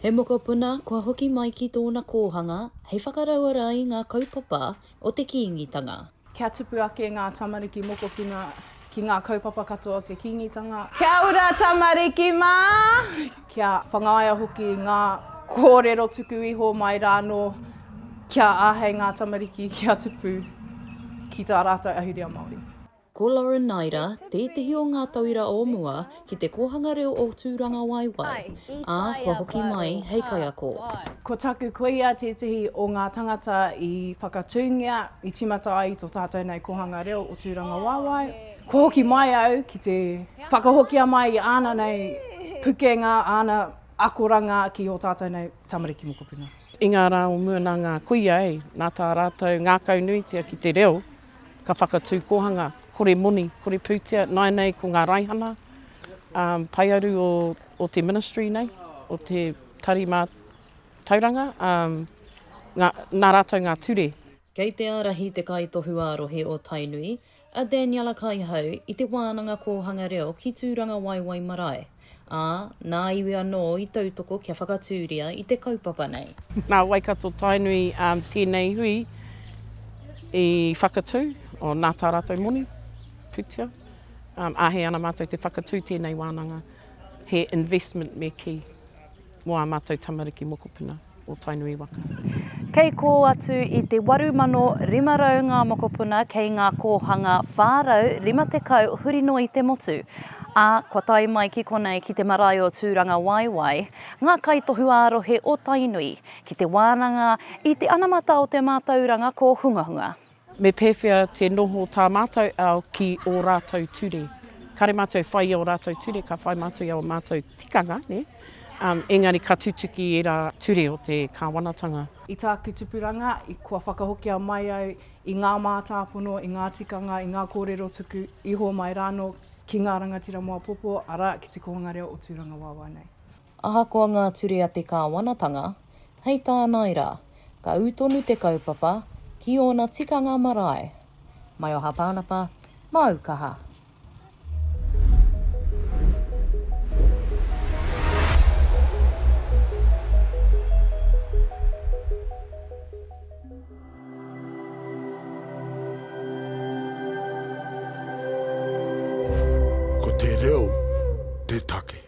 He mokopuna kua hoki mai ki tōna kōhanga hei whakarauora i ngā kaupapa o te Kīngitanga. Kia tupu ake ngā tamariki mokopuna ki ngā kaupapa katoa o te Kīngitanga. Kia ora tamariki mā! Kia whangaia hoki ngā kōrero tuku iho mai rānō kia āhei ngā tamariki kia tupu ki tā rātou ahurea Māori. Ko Lauren Naida tētehi o ngā tauira o mua ki te kōhanga reo o Tūrangawaewae, ā, kua hoki mai hei kaiako. Ko taku kuia tētehi o ngā tangata i whakatūngia, i tīmata ai i tō tātou nei kōhanga reo o Tūrangawaewae. Kua hoki mai au ki te whakahokia mai i āna nei pukenga, āna akoranga ki ō tātou nei tamariki mokopuna. I ngā rā o mua nā ngā kuia, nā tā rātou ngākaunuitia ki te reo. Ka whakatū kōhanga, kore moni, kore pūtea, nāianei ko ngā raihana paearu o te ministry nei, o te tari mātauranga, nā rātou ngā ture. Kei te ārahi te Kaitohu ā-Rohe o Tainui, a Daniella Kaihau, i te Wānanga Kōhanga Reo ki Tūrangawaewae Marae. Ā, nā iwi anō i tautoko kia whakatūria i te kaupapa nei. Nā Waikato-Tainui tēnei hui i whakatū, o nā tā rātou moni, pūtea. Āhei ana mātou te whakatū tēnei wānanga, he investment me kī, mō ā mātou tamariki mokopuna. o Tainui waka. Kei kō atu i te 8,500 ngā mokopuna kei ngā kōhanga 450 huri noa i te motu, ā, kua tae mai ki konei ki te marae o Tūrangawaewae ngā kaitohu ā-rohe o Tainui ki te wānanga i te anamata o te mātauranga kōhungahunga. Me pēwhea te noho tā mātou ao ki ō rātou ture? Kāre mātou e whai i ō rātou ture, ka whai mātou i ō mātou tikanga, nē? Engari ka tutuki ērā ture o te Kāwanatanga. I tāku tupuranga, i kua whakahokia mai au i ngā mātāpono, i ngā tikanga, i ngā kōrero tuku iho mai rānō ki ngā rangatira mō apōpō, arā, ki te kōhanga reo o Tūrangawāwā nei. Ahakoa ngā ture a te kāwanatanga, hei tānai rā, ka ū tonu te kaupapa ki ōna tikanga marae. Maioha Pānapa, māu kaha. Ko te reo te take.